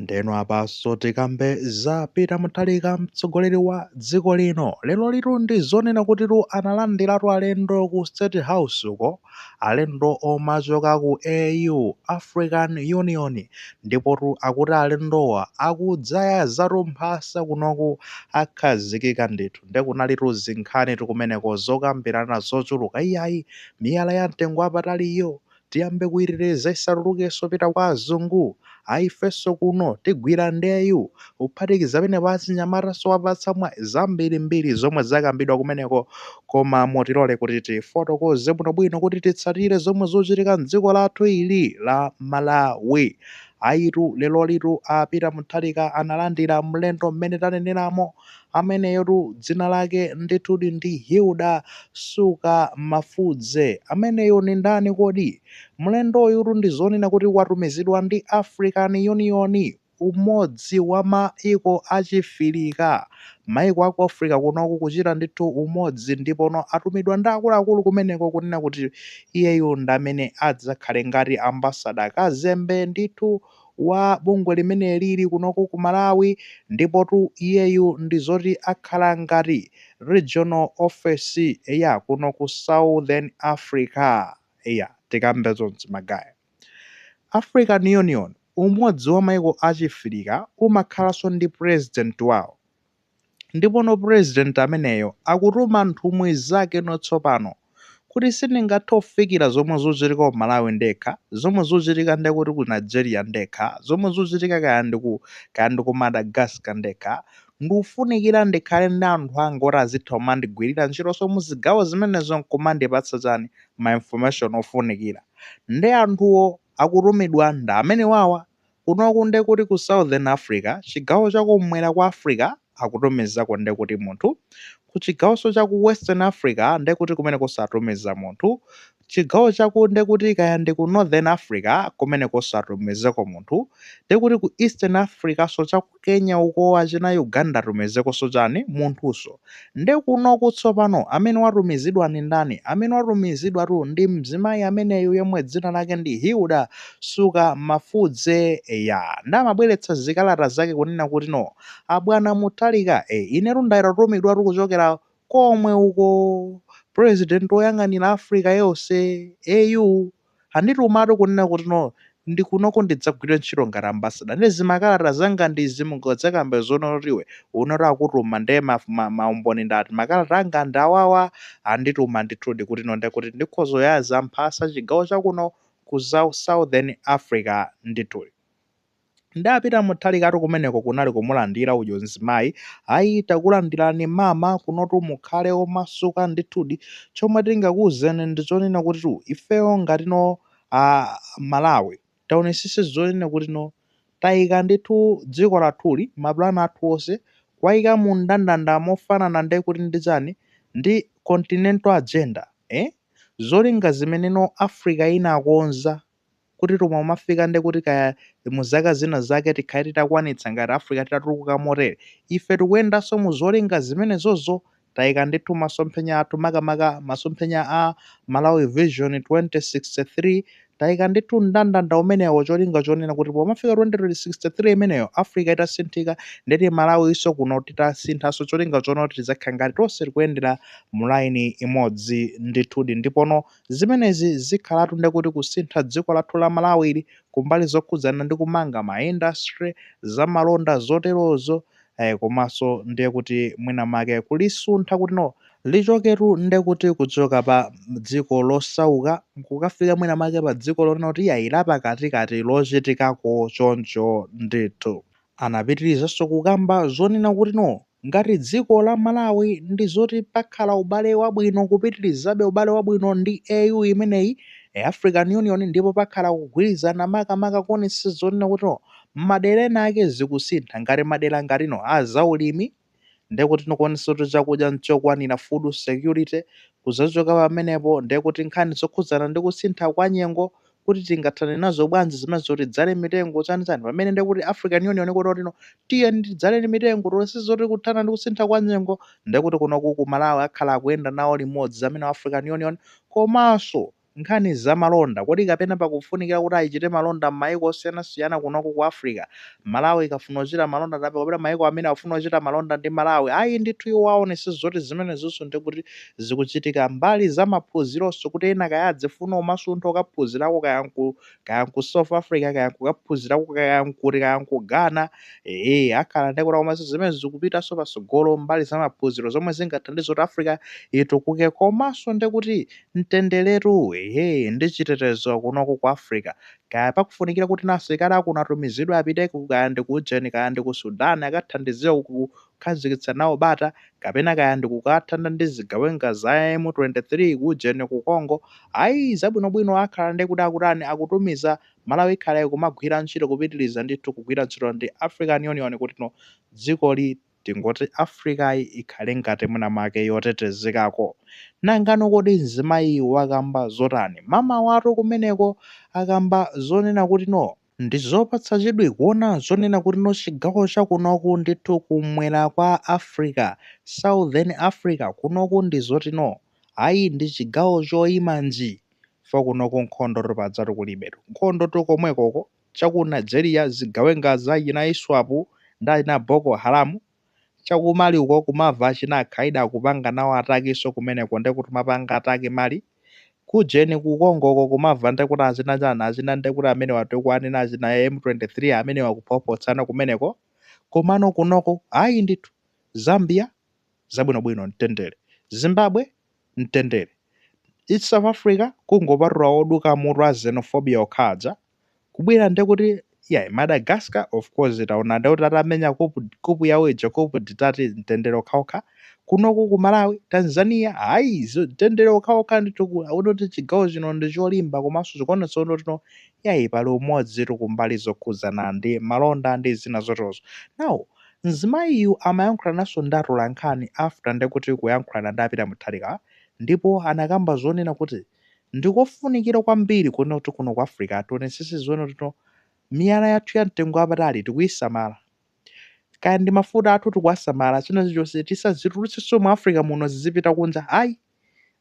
Ndeno apanso tikambe za Peter Mutharika mtsogoleri wa dziko lino. Lero litu ndi zonena kuti tu analandiratu alendo ku State House uko, alendo omachoka ku AU, African Union, ndipo tu akuti alendowa akudzayazatu mphasa kunoku akhazikika ndithu. Nde kunalitu zinkhani tu kumeneko zokambirana zochuluka. Iyayi, miyala ya mtengo wapataliyo, Tiyambe kuiteteza isatulukenso kupita kwa azungu ayi ifenso kuno tigwira ndeyu kuphatikiza penapo achinyamatanso kuwapatsa mwayi zambiri mbiri zomwe zakambidwa kumeneko koma mutilole kuti tifotokoze bwino bwino kuti titsatire zomwe zuchitika mdziko lathu ili la Malawi ayitu lero litu a Peter Mutharika analandira mlendo mmene taneneramo Ameneyutu dzina lake ndithudi ndi Hilda Suka-Mafudze. Ameneyu ndi ndani kodi? Mlendoyutu ndi zonena kuti watumizidwa ndi African Union, Umodzi wa Mayiko Achifirika, mayiko a ku Africa kunoku kuchita ndithu umodzi ndipono atumidwa ndi akuluakulu kumeneko kunena kuti iyeyu ndi amene adzakhale ngati ambassador, kazembe ndithu, wa bungwe limeneli kunoku ku Malawi ndipotu iyeyu ndi zoti akhala ngati regional office ya kuno ku Southern Africa eya tikambe zonse magaye. African Union, umodzi wa maiko achifirika umakhalanso ndi president wawo Ndipono Purezidenti ameneyo akutuma nthumwi zakeno tsopano kuti sindingathe kufikira zomwe zuchitika ku Malawi ndekha, zomwe zuchitika nde kuti ku Nigeria ndekha, zomwe zuchitika kaya ndi ku kaya ndi ku Madagascar ndekha. Ndufunikira ndikhale ndi anthu anga oti azitha kumandigwirira ntchitonso mu zigawo zimenezo nkumandipatsa chani, ma information ofunikira. Nde anthuwo akutumidwa ndi amenewawa, Kunoku nde kuti ku southern Africa chigawo chakum'mwera kwa Africa akutumizako nde kuti munthu, kuchigawonso cha ku western Africa nde kuti kumenekonso atumiza munthu, chigawo cha ku nde kuti kaya ndi ku northern Africa kumenekonso atumizeko munthu, nde kuti ku eastern Africanso cha Kenya uko achina Uganda atumizekonso chani? Munthunso. Nde kunoku tsopano amene watumizidwa ndi ndani? Amene watumizidwatu ndi mzimayi ameneyu yemwe dzina lake ndi Hilda Suka Mafudze eya. Nde amabweretsa zikalata zake kunena kuti no abwana Mutharika e inetu ndatumidwatu kuchokera komwe uko! President woyang'anira Africa yonse, AU. Anditumatu kunena kuti no nde kunoku ndidzagwire ntchito ngati ambassador nde zimakalata zanga ndi izi mungadzakambe zoona kuti iwe unati akutuma nde ma, ma, ma umboni ndi ati? Makalata anga ndi awawa andituma ndithudi kuti no nde kuti ndikhoza kuyaza mphasa chigawo chakuno ku zau southern africa ndithudi Ndapita Mutharikatu kumeneko kunali kumulandira uyu mzimayi ayi takulandirani mama kunotu mukhale omasuka ndithudi chomwe tingakuuzeni ndi chonena kutitu ifeyo ngatino a Malawi taonetsetsa zonena kutino tayika ndithu dziko lathuli mapulani athu onse kuwayika mu mndandanda mofanana nde kuti ndi chani ndi continental agenda eh zolinga zimeneno Africa inakonza kuti pomwe timafika nde kuti kaya muzaka zina zake tikhale titakwanitsa ngati Africa titatukuka motere ife tikuyendanso mu zolinga zimenezozo tayika ndithu masomphenya athu makamaka masomphenya a Malawi Vision 2063 tayika ndithu mndandanda umenewo cholinga chonena kuti pomafika 2063 imeneyo Africa itasinthika ndeti Malawinso kuno titasinthanso cholinga chonena kuti tidzakhala ngati tonse tikuyendera mu line imodzi ndithudi ndipono Zimenezi zikhalatu nde kuti kusintha dziko lathu la Malawili kumbali zokhudzana ndi kumanga ma industry, zamalonda zoterozo, eh komaso ndiye kuti mwina make kulisuntha kutino lichoketu nde kuti kuchoka pa dziko losauka nkukafika mwina make pa dziko lonena kuti iyayi lapakatikati lochitikako choncho ndithu. Anapitilizanso kukamba zonena kutino ngati dziko la Malawi ndi zoti pakhala ubale wabwino kupitilizabe ubale wabwino ndi AU imeneyi, African Union ndipo pakhala kugwilizana makamaka kuonetsetsa zonena kutino madera ena ake zikusintha ngati madera ngatino a zaulimi, ndekuti nkuonetsa kuti chakudya nchokwanira, food security, kuzachoka pamenepo ndekuti nkhani zokhudzana ndi kusintha kwa nyengo kuti tingathane nazo bwanji zimenezo tidzale mitengo chani chani pamene ndekuti African Union ikuti kutino tiyeni tidzale mitengo tonse zoti kuthana ndi kusintha kwa nyengo ndekuti kunoku ku Malawi akhala akuyenda nawo limodzi amenewa African Union komanso Nkhani za malonda, kodi kapena pakufunikira kuti ayi ichite malonda m'mayiko osiyanasiyana kunoku ku Africa? Malawi ikafuna kuchita malonda nafe kapena mayiko amene akufuna kuchita malonda ndi Malawi? Ayi ndithu iwo aonetse zoti zimenezoso ndiye kuti zikuchitika. Mbali za maphunzironso kuti ena kaya adzifuna kumasuntha kukaphunzirako kaya nku kaya nku South Africa kaya nkukaphunzirako kaya nkuti kaya nku Ghana eeh akhala ndiye kuti akuonetsa zimenezi zikupitaso patsogolo mbali za maphunziro zomwe zingathandize kuti Africa itukuke komaso ndiye kuti Mtenderetu eeh ndi chitetezo kunoku ku Africa. Kaya pakufunikira kutino asilikali a kuno atumizidwe apite ku kaya ndi ku ujeni, kaya ndi ku Sudan akathandize uku kukhazikitsa nawo bata, kapena kaya ndi kukathana ndi zigawenga za M23 ku ujeni ku Congo, ayi zabwinobwino akhala ndiye kuti akutani, akutumiza, Malawi ikhala ikumagwira ntchito kupitiriza ndithu kugwira ntchito ndi African Union kutino dzikoli tingoti Afrikayi ikhale ngati mwinamwake yotetezekako. Nangano kodi mzimayiyu wakamba zotani? Mamawatu kumeneko akamba zonena kuti no. Ndi zopatsa chidwi kuona zonena kuti no chigawo cha kunoku ndithu kumwera kwa Africa, Southern Africa, kunoku ndi zoti no. Ayi ndi chigawo choima nji! Chifukwa kunoku nkhondotu padzatu kulibetu. Nkhondotu komwekoko. cha ku Nigeria zigawenga za achina Iswap ndi achina Boko Haram, cha ku Mali uko kumava achina Al-Qaeda akupanga nawo attack-nso kumeneko nde kuti kumapanga attack Mali, kujeni ku Congo uko kumava nde kuti achina chani achina nde kuti amenewa tikuwanena achina M23 amenewa kuphophotsana kumeneko, komano kunoko ayi ndithu, Zambia zabwinobwino mtendere, Zimbabwe mtendere, South Africa kungopatula oduka mutu a xenophobia okha aja. kubwera ndekuti yeah madagascar of course taona ndekuti atamenya coup yawo ija coup d'état mtendere okhaokha kunoko ku malawi tanzania ayi mtendere okhaokha ndithu kuti chigawo chino ndi cholimba komanso chikuonetsa kuti no yayi pali umodzitu kumbali zokhudzana ndi malonda ndi zina zoterozo now mzimayiyu amayankhulananso ndi atolankhani after ndekuti kuyankhulana ndi a peter mutharika ndipo anakamba zonena kuti Ndikofunikira kwambiri kuona kuti kuno ku Africa tionetsetse zonena kuti no miyala yathu ya mtengo wapatali tikuisamala. Kaya ndi mafuta athu tikuwasamala, china chilichonse tisazitulutsenso mu Africa muno zizipita kunja ayi.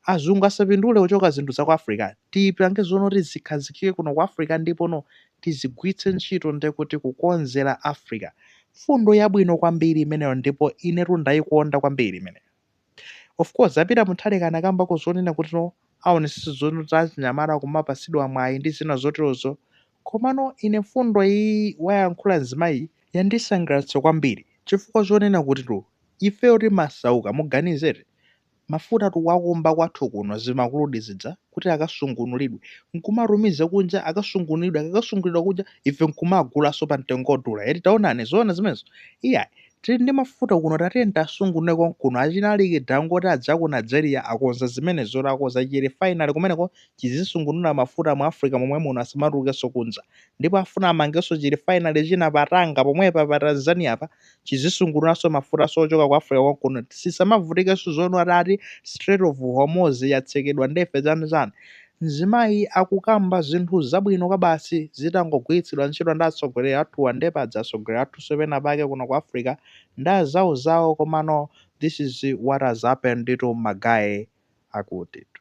Azungu asapindule kuchoka zinthu za ku Africa. Tipange zonena kuti zikhazikike kuno ku Africa ndipono tizigwiritse ntchito ndi kuti kukonzera Africa. Mfundo yabwino kwambiri imeneyo ndipo inetu ndaikonda kwambiri imeneyo. Of course a Peter Mutharika anakambako zonena kuti no aonetsetse zonena kuti achinyamata kumapatsidwa mwayi ndi zina zoterozo komano ine mfundo iyi wayankhula mzimayiyu yandisangalatsa kwambiri chifukwa chonena kutitu ifeyo timasauka muganize eti mafuta tikuwakumba kwathu kuno zima crude zija kuti akasungunulidwe nkumatumiza kunja akasungunulidwe akakasungunulidwa kunja ife nkumagulanso pa mtengo wodula eti taonani zoona zimenezo iyayi tili ndi mafuta kuno tatiyeni tasungunule konkuno achina aliki dangote aja ku nigeria akonza zimenezo akonza chirefinery kumeneko chizisungunula mafuta mu africa momwe muno asamatulukenso kunja ndipo afuna amangenso chirefinery china pa tanga pomwepa pa tanzania pa chizisungunulanso mafutanso ochoka ku Africa konkuno tisamavutikenso zonena atati Strait of Hormuz yatsekedwa nde ife chani chani. Mzimayi akukamba zinthu zabwino kwabasi zitangogwiritsidwa ntchito ndi atsogoleri athuwa nde paja atsogoleri athunso pena pake kuno ku Africa ndi azawozawo komano this is what has happened ditu ma guy akutitu.